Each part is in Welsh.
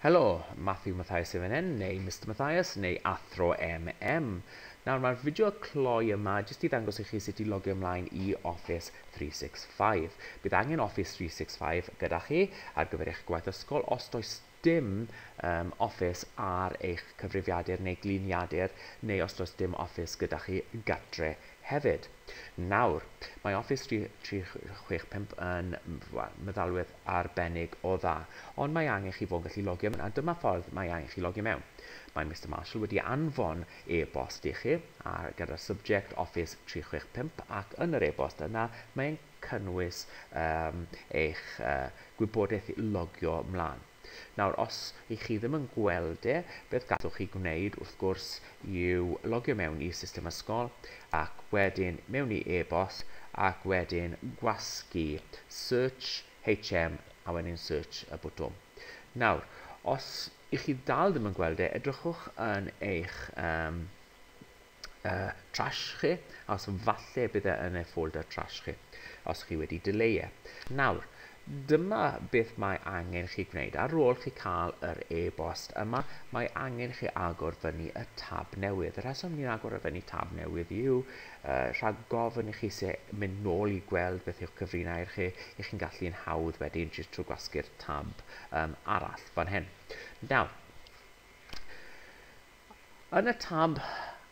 Helo, Matthew Mathias MNN, neu Mister Mathias, neu Athro MM. Nawr, mae'r fideo cloi yma jyst i ddangos i chi sut i logio ymlaen i Office 365. Bydd angen Office 365 gyda chi ar gyfer eich gwaith ysgol os does dim um, Office ar eich cyfrifiadur neu gliniadur, neu os does dim Office gyda chi gatre hefyd. Nawr, mae Office 365 yn meddalwedd arbennig o dda, ond mae angen chi fod yn gallu logio mewn a dyma ffordd mae angen chi logio mewn. Mae Mister Marshall wedi anfon e-bost i chi a gyda'r subject Office 365 ac yn yr e-bost yna mae e'n cynnwys um, eich uh, gwybodaeth logio mlaen. Nawr, os i chi ddim yn gweld e, beth gallwch chi gwneud wrth gwrs i'w logio mewn i system ysgol ac wedyn mewn i e-bost ac wedyn gwasgu search HM a wedyn search y bwtwm. Nawr, os i chi dal ddim yn gweld e, edrychwch yn eich um, uh, trash chi, os falle bydd e yn eich folder trash chi, os chi wedi delay e. Nawr, Dyma beth mae angen chi gwneud, ar ôl chi cael yr e-bost yma, mae angen chi agor fyny y tab newydd. Y rheswm ni'n agor y fyny tab newydd yw uh, rhag gofyn i chi se mynd nôl i gweld beth yw'ch cyfrinau i'r chi, i chi'n gallu yn hawdd wedyn jyst trwy gwasgu'r tab um, arall fan hyn. Nawr, Yn y tab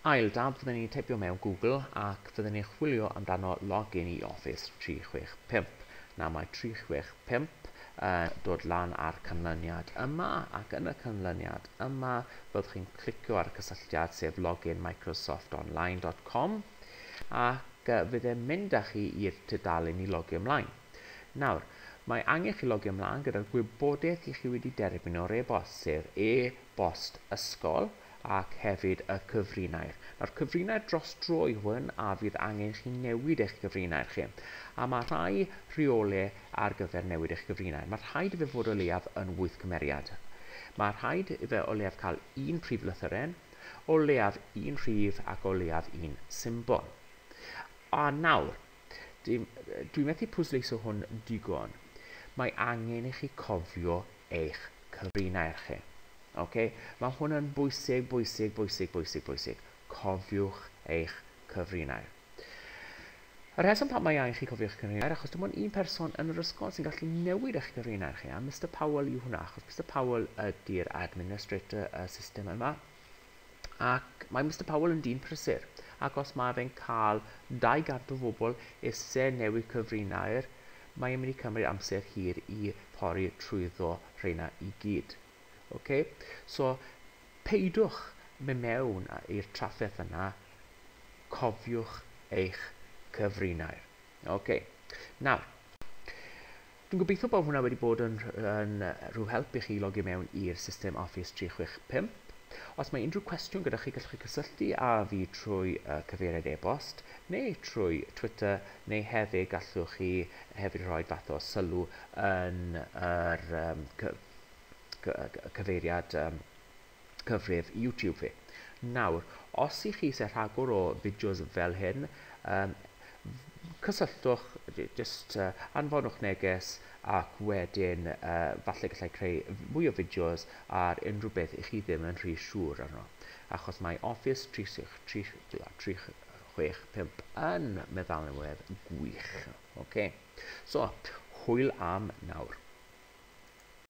Ail Dab fydden ni'n teipio mewn Google ac fydden ni'n chwilio amdano login i Office 365. Nawr mae 365 yn dod lan ar canlyniad yma ac yn y canlyniad yma fyddwch chi'n clicio ar y cysylltiad sef login microsoftonline.com ac fydd e'n mynd â chi i'r tudalen i logio ymlaen. Nawr, mae angen chi logio mlaen gyda'r gwybodaeth i chi wedi derbyn o'r e-bost, sef e-bost ysgol ac hefyd y cyfrinair. Nawr, cyfrinair dros dro yw hwn a fydd angen chi newid eich cyfrinair chi. A mae rhai rheole ar gyfer newid eich cyfrinair. Mae rhaid i fe fod o leiaf yn wyth cymeriad. Mae rhaid i fe o leiaf cael un prif lythyren, o leiaf un rhif ac o leiaf un symbol. A nawr, Dw, dwi methu pwysleiso hwn digon. Mae angen i chi cofio eich cyfrinair chi. Ok? Mae hwn yn bwysig, bwysig, bwysig, bwysig, bwysig. Cofiwch eich cyfrinair. Y rheswm pam mae angen chi cofio eich cyfrinair, achos dim ond un person yn yr ysgol sy'n gallu newid eich cyfrinair chi, a Mr Powell yw hwnna, achos Mr Powell ydy'r administrator y system yma. Ac mae Mister Powell yn dyn prysur, ac os mae fe'n cael 200 o fobl isie newid cyfrinair, mae e'n mynd i cymryd amser hir i pori trwyddo rheina i gyd. Ok? So, peidiwch mynd mewn i'r trafferth yna, cofiwch eich cyfrinair. Ok. Nawr, Dwi'n gobeithio bod hwnna wedi bod yn yn rhyw help i chi i logi mewn i'r system Office 365. Os mae unrhyw cwestiwn gyda chi, gallwch chi cysylltu â fi trwy uh, cyfeiriad e-bost neu trwy Twitter, neu hefyd gallwch chi hefyd rhoi fath o sylw yn yr um, cyfeiriad um, cyfrif YouTube fi. Nawr, os i chi isie rhagor o fideos fel hyn, um, cysylltwch, just uh, anfonwch neges ac wedyn uh, falle gallai creu mwy o fideos ar unrhyw beth i chi ddim yn rhy siŵr arno. Achos mae Office 365 yn meddalwedd gwych. Okay. So, hwyl am nawr.